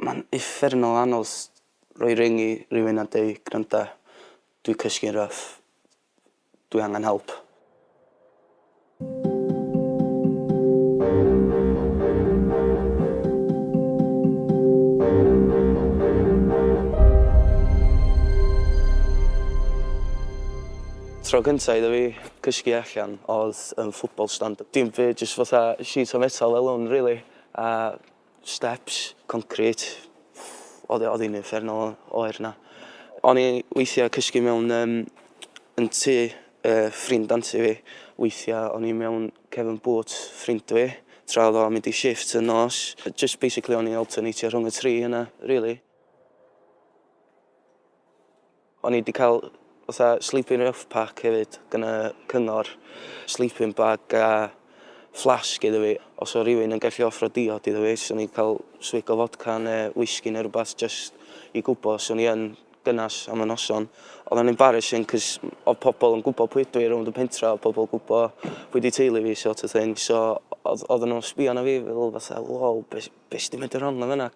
Mae'n uffernol anodd rhoi ring i rywun a deu gwranda dwi cysgu'n rough dwi angen help. Tro cynta iddo fi cysgu allan odd yn football stand dim fi jyst fatha sheet o' metal fel 'wn rili a Steps, concrit, oedd oedd hi'n uffern o oer na. O'n i weithiau cysgu mewn um, yn tu uh, ffrind anti fi. Weithiau o'n i mewn cefn bwt ffrind fi, tra oedd o'n mynd i shift yn nos. Just basically o'n i'n alternatio rhwng y tri yna, really. O'n i 'di cael fatha sleeping rough pack hefyd gan y cyngor, sleeping bag a flask iddo fi. Os oedd rhywun yn gallu offro diod iddo fi, 'swn i'n cael swig o fodca neu whisky neu rhywbeth jyst i gwybod os o'n i yn gynnes am y noson. Oedd o'n embarrassing cos oedd pobl yn gwybod pwy ydw i rownd y pentre, oedd pobl yn gwybod pwy 'di teulu fi sort of thing. So oedd oedden nhw'n sbio arna fi fel fatha 'wow, be be sy 'di mynd yn wrong yn fan'na?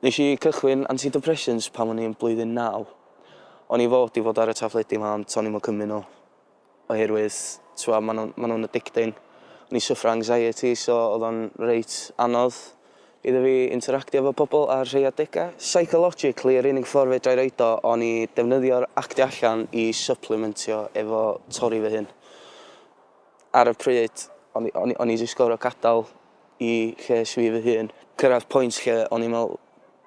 Nes i cychwyn antidepressants pan o'n i'n blwyddyn naw. O'n i fod i fod ar y tafledi 'ma ond to'n i'm yn cymryd nhw oherwydd t'wbo' ma' nhw'n ma' nhw'n addicting. O'n i'n syffro anxiety so o'dd o'n reit anodd iddo fi interactio efo pobol ar rhei adega. Psychologically yr unig ffor fedra'i roid o o'n i defnyddio'r actio allan i syplimentio efo torri fy hun. Ar y pryd, o'n i, o'n i, o'n i 'di sgoro gadael i lles fi fy hun. Cyrraedd pwynt lle o'n i'n meddwl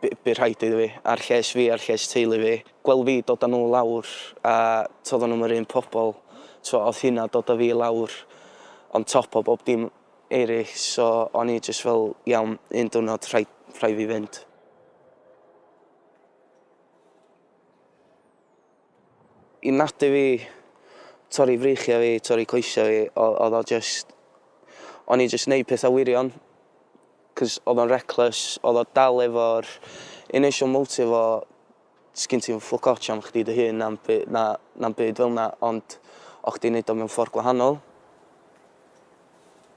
by- bydd rhaid iddo fi, a'r lles fi, a'r lles teulu fi, gweld fi dod â nhw lawr, a tibod oedden nhw'm yr un pobl, so oedd hynna dod â fi lawr on top o bob dim eraill, so o'n i jyst fel, iawn, un diwrnod rhaid, rhaid fi fynd. I natur fi, torri freichiau fi, torri coesau fi, oedd o jyst... O'n i'n jyst neud pethau wirion, cos oedd o'n reckless, oedd o dal efo'r initial motive o sgin ti'm ffwc ots am chdi dy hun na'm by- na na'm byd fel 'na ond o' chdi'n neud o mewn ffordd gwahanol.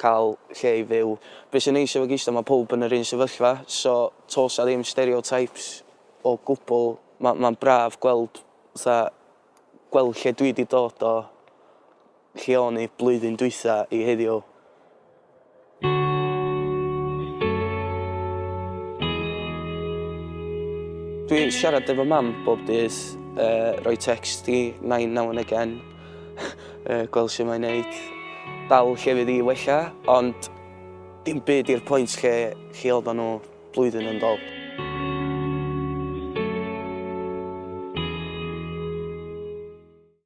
cael lle i fyw. Be sy'n neis efo gisda mae pawb yn yr un sefyllfa so tos a ddim stereotypes o gwbl. Ma ma'n braf gweld fatha gweld lle dwi di dod o lle o'n i blwyddyn dwytha i heddiw. Dwi siarad efo mam bob dydd yy roi text i nain now and again. uh, gweld sy'n mae'n neud, dal lle fydd i wella, ond dim byd i'r pwynt lle chi oedden nhw blwyddyn yn dol.